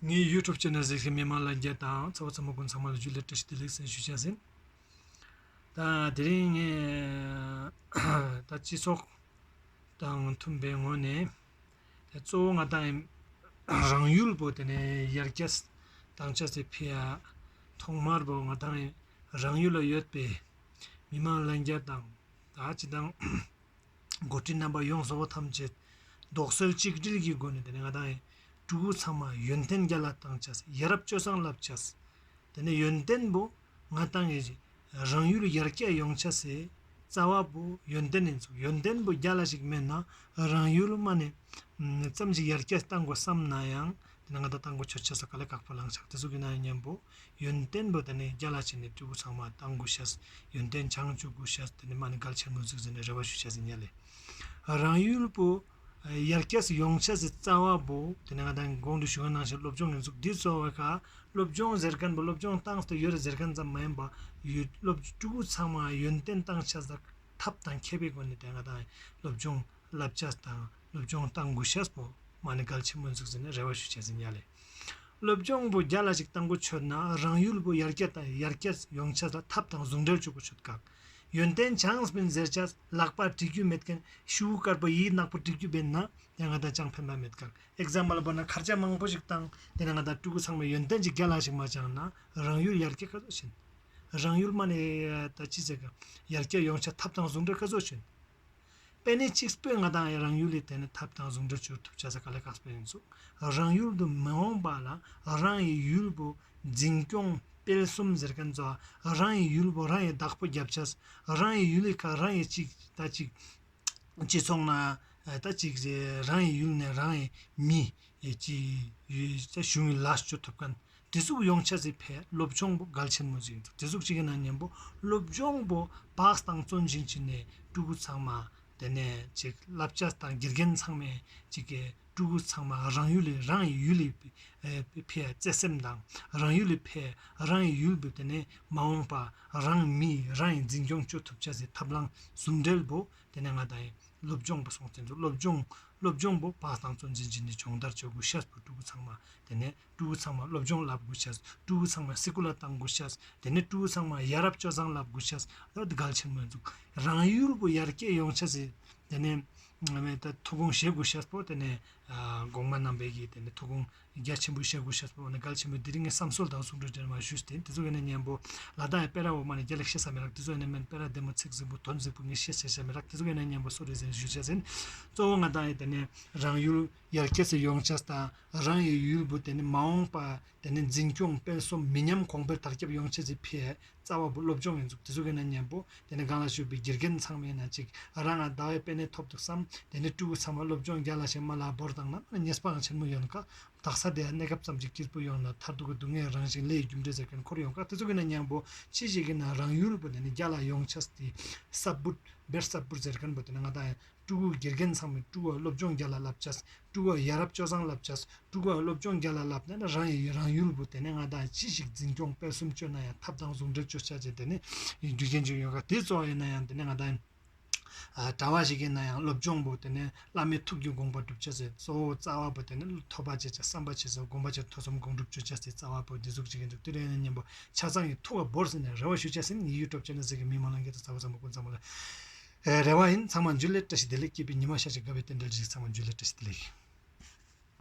ངའི YouTube channel གཟིགས་ཤིང་མི་མང་ལ་འགྱེད་དང་ཚ་བོ་ཚ་མོ་ཀུན་ཚང་མ་ལ་རྒྱུས་ལེགས་བཀྲ་ཤིས་བདེ་ལེགས་གསན་ཞུ་བྱས་ཟིན། ད་དེ་རིང་ངས་ད་སྤྱི་ཚོགས་དང་མཐུན་པའི་ངོས་ནས་གཙོ་བོ་ང་དང་རང་ཡུལ་བོད་དེ་ནས་ཡར་རྒྱས་དང་ཆབ་སྲིད་འཕེལ་ཡ་ཐོག་མར་བོད་ང་དང་རང་ཡུལ་ལ་ཡོད་པའི་མི་མང་ལ་འགྱེད་དང་ད་ཇི་དང་འགོ་ཁྲིད་རྣམ་པ་ཡོངས་བཟོ་བ་ཐམས་ཅད་རྡོག་སོལ་གཅིག་སྒྲིལ་གྱི་སྒོ་ནས་དེ་ནས་ང་དང་ཡིན་སྤྲུལ་སྐུ་ཚང་མ་ཡོན་ཏན་བརྒྱ་ལ་བཏང་བྱས་ཡ་རབས་སྤྱོད་བཟང་བསླབ་བྱས་དེ་ནས་ཡོན་ཏན་པོ་ང་དང་ཡིན་གྱི་རང་ཡུལ་ཡར་རྒྱས་ཡོང་བྱས་སའི་རྩ་བ་པོ་ཡོན་ཏན་ཡིན་ཚུལ་ཡོན་ཏན་པོ་བརྒྱ་ལ་ཞིག་མེད་ན་རང་ཡུལ་མ་ནས་ཙམ་ཞིག་ཡར་རྒྱས་བཏང་དགོས་བསམ་ན་ཡང་དེ་ནས་ང་དང་བཏང་དགོས་ཆོད་བྱས་ས་ག་ལེ་དགག་པ་ལངས་ཕྱག་དེ་ཚོ་གི་ན་ཡོད་སྙམ་པོ་ཡོན་ཏན་པོ་དེ་ནི་རྒྱ་ལ་བྱིན་ནས་སྤྲུལ་སྐུ་ཚང་མ་བཏང་དགོས་ཤ་ཟེར་ཡོན་ཏན་བྱང་ཆུབ་སྐུ་ཤ་ཟེར་དེ་ནི་མ་ནི་གལ་ཆེར་མི་གཟིགས་ཟེར་ནས་རེ་བ་ཞུ་ཤ་ཟེར་ཉལ་ལེ། རང་ཡུལ་པོ། ཡར་སྐྱ་སུ་ཡོང་ཤ་ཟེར་རྩ་བ་པོ་དེ་ནི་ང་དང་དགོང་དུ་ཞུ་བ་གནང་ཤ་སློབ་སྦྱོང་གི་མཛུབ་དེ་གཙོ་བོ་ཤ་སློབ་སྦྱོང་ཟེར་མཁན་པོ་སློབ་སྦྱོང་བཏང་སྟེ་ཡོད་རེད་ཟེར་མཁན་ཙམ་མ་ཡིན་པར་ཡོད་སློབ་སྤྲུལ་སྐུ་ཚང་མ་ཡོན་ཏན་བཏང་ཤ་ཟ་ཐབས་དང་མཁས་པའི་སྒོ་ནས་དེ་ང་དང་སློབ་སྦྱོང་བསླབ་བྱ་དང་སློབ་སྦྱོང་བཏང་དགོས་ཤ་ཟེར་པོ་མ་ནི་གལ་ཆེར་མི་གཟིགས་ཟེར་ནས་རེ་བ་ཞུ་ཤ་ཟེར་ཉལ་ལེ། སློབ་སྦྱོང་པོ་བརྒྱ་ལ་ཞིག་བཏང་གོ་ཆོད་ན་རང་ཡུལ་པོ་ཡར་རྒྱས་དང་ཡར་རྒྱས་ཡོང་ཆེད་ལ་ཐབས་དང་ཟུང་འབྲེལ་བྱུག་གོ་ཆོད་དཀའ། ཡོན་ཏན་བྱང་སྤིན་གཟེར་བྱ་ལག་པ་བྲིས་རྒྱུ་མེད་མཁན་ཤི་བོ་དཀར་པོ་ཡིས་ནག་པོ་བྲིས་རྒྱུ་བེད་ན་དེ་ང་དང་ཅང་ཕན་པ་མེད་དཀའ། Example པོ་ན་མཁར་བྱ་མང་པོ་ཞིག་བཏང་དེ་ན་ང་དང་སྤྲུལ་སྐུ་ཚང་མས་ཡོན་ཏན་གྱི་བརྒྱ་ལ་ཞིག་མ་བཅངས་ན་རང་ཡུལ་ཡར་རྒྱས་སྐ་བཟོ་བྱེད། རང་ཡུལ་མ་ནས་ད་ཅི་ཟེར་ཀ་ཡར་རྒྱས་ཡོང་ཆེད་ཐབས་དང་ཟུང་འབྲེལ་སྐ་བཟོ་བྱེད། པེ་ནེ་ཅིག་སྤོས་ང་དང་ཡང་རང་ཡུལ་ལས་བལྟས་ན་ཐབས་དང་ཟུང་འབྲེལ་བྱུར་ཐུབ་བྱ་ས་ག་ལ་ག་སྤོས་ཡིན་ཟུག་རང་ཡུལ་དུ་མི་འོང་པ་ལ་རང་ཡི་ཡུལ་བུ་འཛིན་སྐྱོང་སྤེལ་གསུམ་ཟེར་མཁན་ཚོ་རང་ཡི་ཡུལ་བུ་རང་ཡི་བདག་པོ་རྒྱབ་བྱས་རང་ཡི་ཡུལ་ལས་ཁ་རང་ཡི་ཅིག་ད་ཅིག་སྤྱི་ཚོགས་ན་ད་ཅིག་རང་ཡི་ཡུལ་ནས་རང་ཡི་མི་ཡི་ཅིག་གཞུང་ལ་བྱུར་ཐུབ་མཁན་བྲིས་གཟུགས་ཡོངས་ཆ་ཚིག་ཕལ་སློབ་སྦྱོང་པོ་གལ་ཆེན་མོ་ཟིག་འདུག་བྲིས་གཟུགས་གཅིག་གི་ནང་ཉན་པོ་སློབ་སྦྱོང་པོ་བགས་དང་བརྩོན་ཅིང་བྱིན་ནས་སྤྲུལ་སྐུ་ཚང་མ་དེ་ནས་ཅིག་བསླབ་བྱ་དང་དགེ་རྒན་ཚང་མས་ཅིག་གི་སྤྲུལ་སྐུ་ཚང་མ་རང་ཡུལ་ལས་རང་ཡི་ཡུལ་ལས་ཕའི་བརྩེ་སེམས་དང་རང་ཡུལ་ལས་ཕའི་རང་ཡི་ཡུལ་དུ་དེ་ནས་མ་འོངས་པ་རང་མི་རང་ཡི་འཛིན་སྐྱོང་བཅོས་ཐུབ་བྱ་ཟིག་ཐབས་ལམ་ཟུང་འབྲེལ་པོ་དེ་ནས་ང་དང་ཡི་སློབ་སྦྱོང་པོ་སོང་ཚེ་འདུག་སློབ་སྦྱོང་སློབ་སྦྱོང་པོ་བགས་དང་བརྩོན་ཅིང་བྱིན་ནས་སྦྱོང་བརྡར་བྱེད་དགོས་ཤར་བུ་སྤྲུལ་སྐུ་ཚང་མ་དེ་ནས་ཀྲུའུ་བོ་ཚང་མ་སློབ་སྦྱོང་ལབ་དགོས་ཤཱས། ཀྲུའུ་བོ་ཚང་མ་སི་ཀུ་ལ་བཏང་དགོས་ཤཱས། དེ་ནས་ཀྲུའུ་བོ་ཚང་མ་ཡ་རབས་སྤྱོད་བཟང་ལབ་དགོས་ཤཱས། ཨོ་ད་གལ་ཆེན་མོ་འདུག་རང་ཡུལ་བོ་ཡར་སྐྱེད་ཡོང་ཤཱས། དེ་ནས་ང་མེད་ད་ཐུགས་དགོངས་བཞེས་དགོས་ཤཱས་པོ་དེ་ནས་གོང་མ་རྣམ་པས་ཀྱིས་དེ་ནས་ཐུགས་དགོངས་རྒྱ་ཆེན་པོ་བཞེས་དགོས་ཤཱས་པོ་ཨོ་ན་གལ་ཆེན་མོ་འདི་རིགས་ངས་བསམ་སོལ་དང་གསུང་སྒྲོས་ཅེར་མ་ཞུས་ཏེ་དེ་ཚོ་ཡོད་ན་སྙན་པོ། ལ་དྭགས་ཡི་དཔལ་ར་འོག་མ་ནས་རྒྱ་ལེགས་བཤད་ས་མི་རག་དེ་ཚོ་ཡོད་ན་སྨན་དཔལ་ར་བདེ་མོ་ཚིག་ཟིག་པོ་དོན་གཟིགས་པོ་ངས་བཤད་བཤད་བྱ་མི་རག་དེ་ཚོ་ཡོད་ན་སྙན་པོ་གསོལ་རས་ཟིན་ཞུ་བྱ་ཟིན། གཙོ་བོ་ང་དང་ཡི་དེ་ནས་རང་ཡུལ་ཡར་ཁྱེད་ཚོས་ཡོངས་ཁྱབ་དང་རང་ཡི་ཡུལ་བུ་དེ་ནི་མ་འོངས་པ་དེ་ནི་འཛིན་སྐྱོང་སྤེལ་གསུམ་མི་ཉམས་གོང་འཕེལ་དར་ཁྱབ་ཡོང་ཆེད་ཀྱི་ཕའི་རྩ་བ་བུ་སློབ་སྦྱོང་ཡིན་ཚུགས་དེ་ཚོ་གི་ནང་གཉེན་པོ་དེ་ནི་སྒང་ལ་བཞུགས་པའི་དགེ་རྒན་ཚང་མའི་ནང་གཅིག་རང་ང་ཟླ་བའི་དཔེ་ནས་ཐོབ་འདུག་བསམ་དེ་ནི་སྤྲུལ་སྐུ་ཚང་མ་སློབ་སྦྱོང་རྒྱ་ལ་ཞིང་མ་ལ་བོར་དང་ནམ་ཡང་རྙེད་སྤངས་ཆེན་མོ་ཡོང་ཁ་དག་ས་དེའི་གནས་སྐབས་ཙམ་གྱི་སྐྱིར་པོ་ཡོང་ན་མཐར་ཐུག་གི་སྡུག་བསྔལ་རང་བཞིན་ལས་རྒྱུ་འབྲས་ཟེར་མཁན་འཁོར་ཡོང་ཁ་དེ་ཚོ་གི་ནང་གཉེན་པོ་ཅི་ཞིག་གི་ནང་རང་ཡུལ་བུ་དེ་ནི་རྒྱ་ལ་ཡོངས་ཁྱབ་དེ་སྲབ་བུ་བེར་སྲབ་བུར་ཟེར་མཁན་པོ་དེ་ནི་ང་དང་ཀྲུག་ཨུ་དགེ་རྒན་ཚང་མས་ཀྲུག་ཨུ་སློབ་སྦྱོང་བརྒྱ་ལ་བསླབ་བྱ། ཀྲུག་ཨུ་ཡ་རབས་སྤྱོད་བཟང་བསླབ་བྱ། ཀྲུག་ཨུ་སློབ་སྦྱོང་བརྒྱ་ལ་བསླབ་ནས་ན་རང་ཡི་རང་ཡུལ་དུ་དེ་ནས་ང་དང་ཅི་ཞིག་འཛིན་སྐྱོང་སྤེལ་གསུམ་སྤྱོད་ན་ཡང་ཐབས་དང་གཟུགས་འདྲེ་བཅོ་བྱ་བྱེད་དེ་ནས་རྒྱུ་རྐྱེན་ཅིག་ཡོད་ཁ་དེ་གཙོ་བ་ཡིན་ན་ཡང་དེ་ནས་ང་དང་གྲྭ་བ་ཞིག་ཡིན་ན་ཡང་སློབ་སྦྱོང་པོ་དེ་ནས་བླ་མའི་ཐུགས་ཀྱི་དགོངས་པ་བསྒྲུབ་བྱ་ཟེར་གཙོ་བོ་རྩ་བ་པོ་དེ་ནས་ཐོབ་པ་བྱེད་བྱ་བསམ་པ་བྱེད་བྱ་སྒོམ་པ་བྱེད་ཐོས་བསམ་སྒོམ་སྒྲུབ་སྤྱོད་བྱ་ཟེར་རྩ་བ་པོ་འདི་གཟུགས་ཅིག་ཡིན་འདུག་དེ་རིང་ཡང་སྙམ་པ་ཆ་ཚང་གི་ཐུགས་ཀ་བོར་ཟིན་ནས་རེ་བ་ཞུ་བྱ་ཟིན་ཡིད་ཡུལ་སྤྲོ་བྱས་ནས་ཟེར་གྱི་མི་མང་ལ་འགལ་ཟླ་ཚ་བོ་ཙམ་མ་བསྐུར་མཚམས་མ་ལ། རེ་བ་ཡིན་ཚང་མ་འཇུ་ལེ་བཀྲ་ཤིས་བདེ་ལེགས་སྐྱིད་པའི་ཉི་མ་ཤར་ཅིག་དགའ་བའི་རྟེན་འབྲེལ་རེ་ཞིག་ཚང་མ་འཇུ་ལེ་བཀྲ་ཤིས་བདེ་ལེགས།